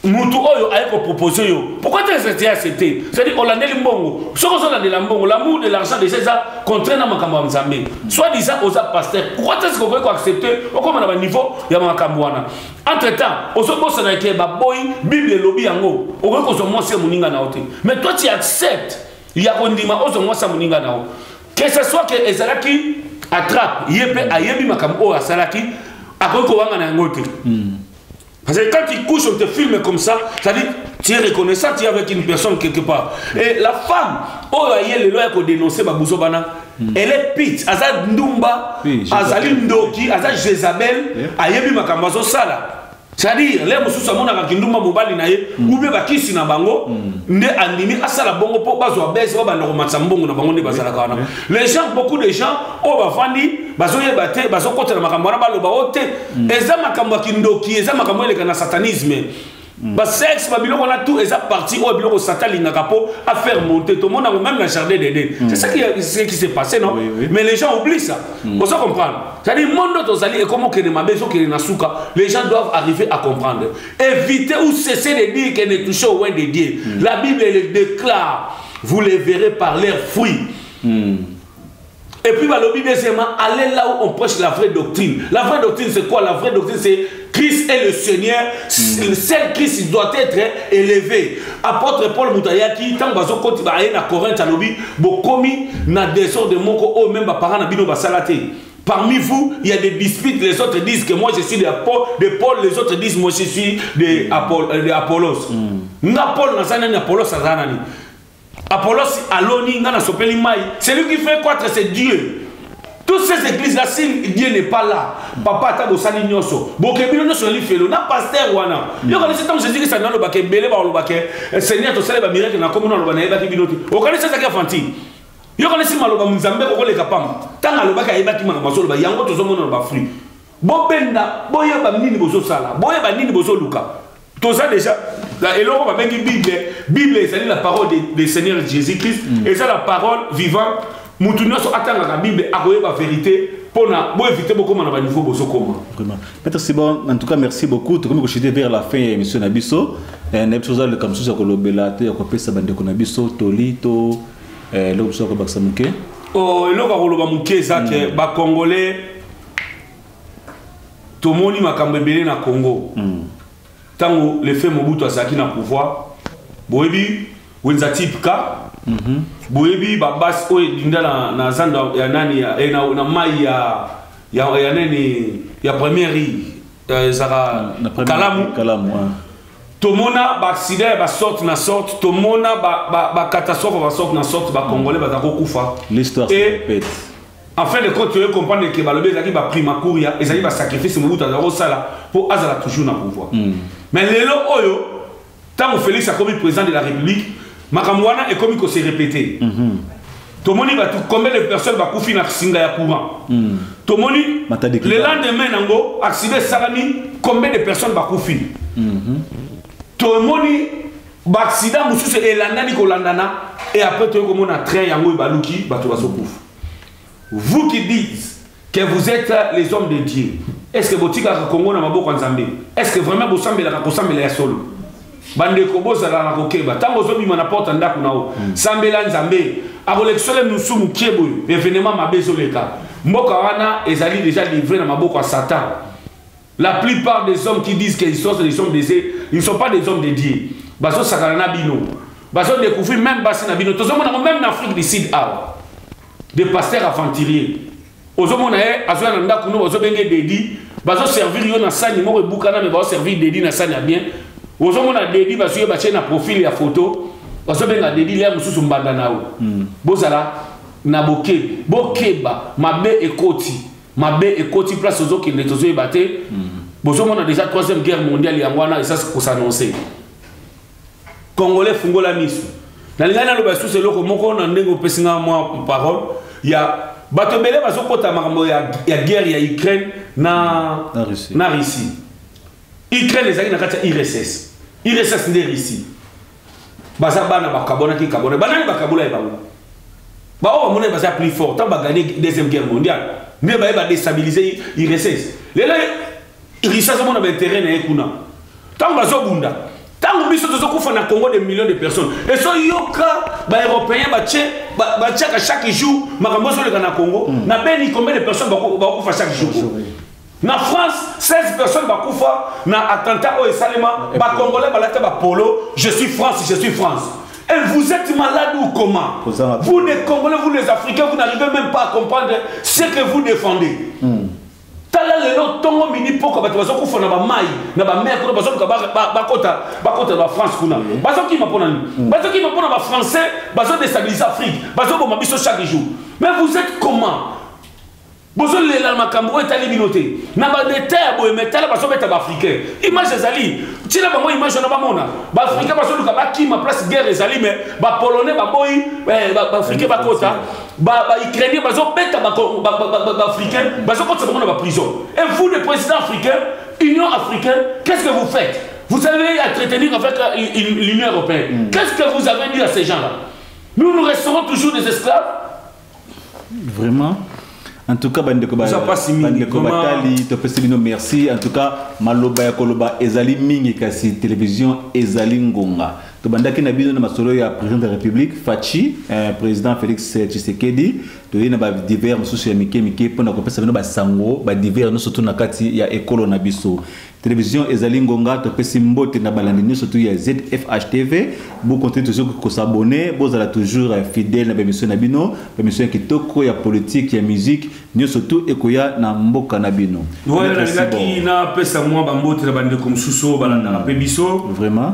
mutu oyo aye kopropose yo pourquoi te accepte accepte c'est-à-dire olandeli mbongo soki ozolandela mbongo l'amour de l'argent déjà eza contraire na makambo ya nzambe soit disant oza pasteur pourquoi te sikokoki koaccepte okoma na baniveau ya makambo wana entre temps ozobosana ke baboyi bible elobi yango okoki kozwa mwasi ya moninga na yo te mais toi tu accepte ya kondima ozwa mwasi ya moninga na yo que ce soit ke ezalaki attrape ye mpe ayebi makambo oyo asalaki akoki kowanga na yango te hmm. Parce que quand tu couches, on te filme comme ça, ça dit, tu es reconnaissant, tu es avec une personne quelque part. Et la femme, oh, elle est le loi pour dénoncer ma bouzobana. Hmm. Elle est pit, Aza Ndumba, Aza Lindoki, Aza Jezabel, Ayebi Makambazo Sala. C'est-à-dire, les moussous à mon avec une Ndumba Mobali naïe, hmm. ou bien Bakissi na bango, hmm. ne andimi asala bongo po bazo abese ba ndoko matsambongo na bango ne bazala kana. Les gens, beaucoup de gens, oh, bavandi, bazo yebate, bazo kotela makambo na baloba ote, oh, mm. eza makambo ya kindoki eza makambo eleka na satanisme mm. basexe babiloko wana tout eza parti oyo biloko sata alingaka mpo afaire monte tomona yango même na jardin d'eden mm. c'est ça qui, ce qui s'est passé non oui, oui. mais les gens oublie ça mm. ozo comprendre c'est-à-dire monde oyo tozali ekomokende mabe ezokende na suka les gens doivent arriver à comprendre éviter ou cesser de dire que ne touche au loin de dieu mm. la bible elle déclare vous les verrez par leurs fruits mm. Et puis, bah, le deuxièmement, allez là où on prêche la vraie doctrine. La vraie doctrine, c'est quoi La vraie doctrine, c'est Christ est le Seigneur. Mm. Seul Christ doit être élevé. Apôtre Paul Moutayaki, tant bazo koti ba na Corinthe alobi, bokomi na désordre de moko o même ba parents na bino ba salaté. Parmi vous, il y a des disputes. Les autres disent que moi je suis de Paul, de Paul les autres disent moi je suis de, Apollos. Mm. Nga Paul na zanani Apollos azanani. Apollos aloni nga na sopeli mai. Celui qui fait croître c'est Dieu. Toutes ces églises là si Dieu n'est pas là, papa ata bosali nyoso. Bokebino nyoso li felo na pasteur wana. Mm. Yo kanisa tango Jésus Christ nalo bake bele ba loba ke eh, Seigneur to sala ba miracle na komo na loba na yeba ki bino te. O kanisa ça ke fanti. Yo kanisa maloba mzambe ko koleka pamba. Tanga loba ka yeba ki maka masolo ba yango to zo mona ba fruit. Bobenda boyeba nini bozo sala. Boyeba nini bozo luka. toza deja eloko babengi bible bible ezali la parole de, de seigneur jésus christ mm. eza la parole vivante motu nyonso atangaka bible akoyeba verité pona bo éviter bokoma na ba niveau bozokoma vraiment maître
sibon en tout cas merci beaucoup tokomi kochite vers la fin ya émission na biso eh, nayebi soki ozaleka mosusu ya kolobela to ya kopesa bandeko na biso toli to eh, eloko
mosusu ya kobakisa
moke
oh, eloko ya koloba
moke
eza ke mm. bacongolais tomoni makambo ebele na congo ntango mm. lefe mobutu azalaki na pouvoir boyebi wenza type ka mm -hmm. boyebi babasi oyo edinda na, na zando ya nani ya, eh, na, na mai ya, ya, ya nani ya première rive eh, ezaka mm, kalamu, kalamu ouais. tomona baaksida ya basorte na sorte tomona bacatastrophe ba, ba, ba ya basorte na sorte bacongolais baza kokufa
En fin de
compte, tu veux comprendre que Balobi ezalaki ba prima kuria, ezalaki ba sacrifice Mobutu azalaki kosala mpo azala toujours na pouvoir. Mm. Mais lelo oyo, ntango Félix akomi président de la République, makambo wana ekomi ko se répéter. Mm -hmm. tomoni bato combien de personnes bakufi na singa ya courant mm. tomoni le lendemain nango accident esalami combien de personnes bakufi mm -hmm. tomoni baaksida mosusu elandani kolandana e après toyei komona train yango ebaluki bato bazokufa vous qui dites que vous êtes les hommes de dieu est ce que botikaka kongo na maboko ya nzambe est ce que vraiment bosambelaka kosambela ya solo bandeko bozala na kokeba ntango ozobima na porte ya ndako na yo hmm. sambela nzambe akolekisa yo mosusu mokie boye evenema mabe ezoleka mboka wana ezali deja livre na maboko ya satan La plupart des hommes qui disent qu'ils sont des hommes de Dieu, ils ne sont pas des hommes de Dieu. Bazo sakana na bino. Bazo découvrir même basi na bino. Tozo mona même na Afrique du Sud awa. Des pasteurs aventuriers. Ozo mona ye azo na ndaku no ozo benge dedi. Bazo servir yo na sani moko ebukana mais bazo servir dedi na sani ya bien. Ozo mona dedi bazo ye batie na profil ya photo. Bazo benga dedi lia mususu mbanda na yo. Hmm. Bozala na bokeba. Bokeba mabe ekoti. mabe ekoti place tozokende tozoyeba te hmm. bozomona déjà troisième guerre mondiale yango wana esasi kosanonce congolais fungola miso nalingai naloba lisusu eloko moko na ndenge opesi ngai mwa parole ya bato ebele bazokota makambo ya, ya guerre ya ukraine na, na russie, na russie. ukraine ezalaki na kati ya irss irss nde russie baza bana bakabwanaki kabwana banani bakabola ye bango baoyo bamonani baza plus fort ntango bagane deuxième guerre mondiale nde baye badestabilize ursese lelo risi azomona baintere na ye kuna ntango bazobunda ntango biso tozokufa na congo de millions de personnes ezoyoka baeuropéen batiaka chaque jour makambo ezoleka na congo hmm. na beni combien de personnes bakufa chaque jour Na France, 16 personnes bakufa na attentat oyo esalema, ba congolais balata ba polo, je suis France, je suis France. Et vous êtes malade ou comment Vous les Congolais, vous les Africains, vous n'arrivez même pas à comprendre ce que vous défendez. Hmm. tala lelo ntongo midi mpoko bato bazokufa na bamai na bamere kuna bazoluka bakota bakota na bafrance kuna bazokima mpo na nini hmm. bazokima mpo na bafrançais bazodestabilise afrique bazoboma biso chaque jour mais vous êtes comment bozolela na makambo oyo etali bino te na badeta ya boye me tala bazobeta baafricain image ezali ntina bango image wana bamona baafricain bazoluka bakima place guerre ezali me bapolonais baboyi eh, baafricain bakota baukrainien bazobeta baafricain bazokotisa bango na baprison et vous le président africain union africaine qu'est ce que vous faites vous avez à entretenir avec euh, l'union européenne mm. qu'est ce que vous avez dit à ces gens là nous nous resterons toujours des esclaves
vraiment en tout cas bandeko bandeko batali topesi bino merci en tout cas maloba ya koloba ezali mingi kasi télévision ezali ngonga tobandaki na bino na masolo ya président de la république faci eh, président félix tshisekedi toyei na badivers mosusu ya mike mike mpo na kopesa bino basango badivers nyonso tu na kati ya ekolo na biso Television ezali ngonga topesi mbote na balandi nyonso tu ya ZFH TV bo continue toujours ko s'abonner bozala toujours euh, fidèle na bemission na bino bemission kitoko ya politique ya musique nyonso tu ekoya na mboka na bino voilà nalingaki
napesa mwa bambote na bandeko mosusu oyo balandaka mpe biso vraiment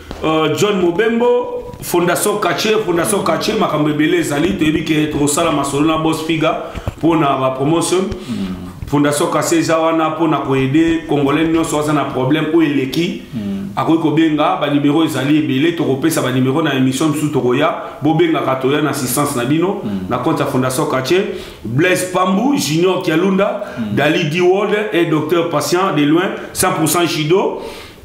Euh, john mobembo fondation kache fondation kache makambo ebele ezali toyebi ke tokosala masolo na bos figa mpona bapromotion mm. fondation kache eza wana mpona koede congolais nyonso aza na problème oyo eleki mm. akoki kobenga banimero ezali ebele tokopesa banimero na émission mosusu tokoya bobengaka toya na assistance na bino mm. na compte ya fondation kache blaise pambu junior kialunda mm. dali diwolde et docteur patient de loin 100 judo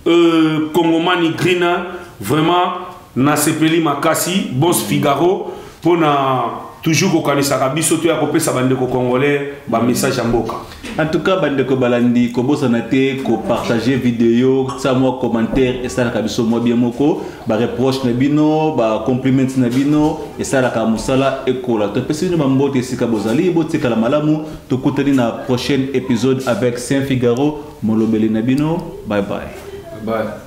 Euh, Congomani Grina, vraiment, nasepeli makasi, boss Figaro, pour na toujours kokanisaka biso to ya kopesa bandeko congolais bamessage ya mboka en tout cas bandeko
balandi kobosana te kopartage video sa mwa commentaire esalaka biso mwa bien moko bareproche na bino bacompliment na bino esalaka mosala ekola topesi bino bambote esika bozali botikala malamu tokutani na prochaine épisode avec saint figaro Molobeli na bino bye bye. Bye.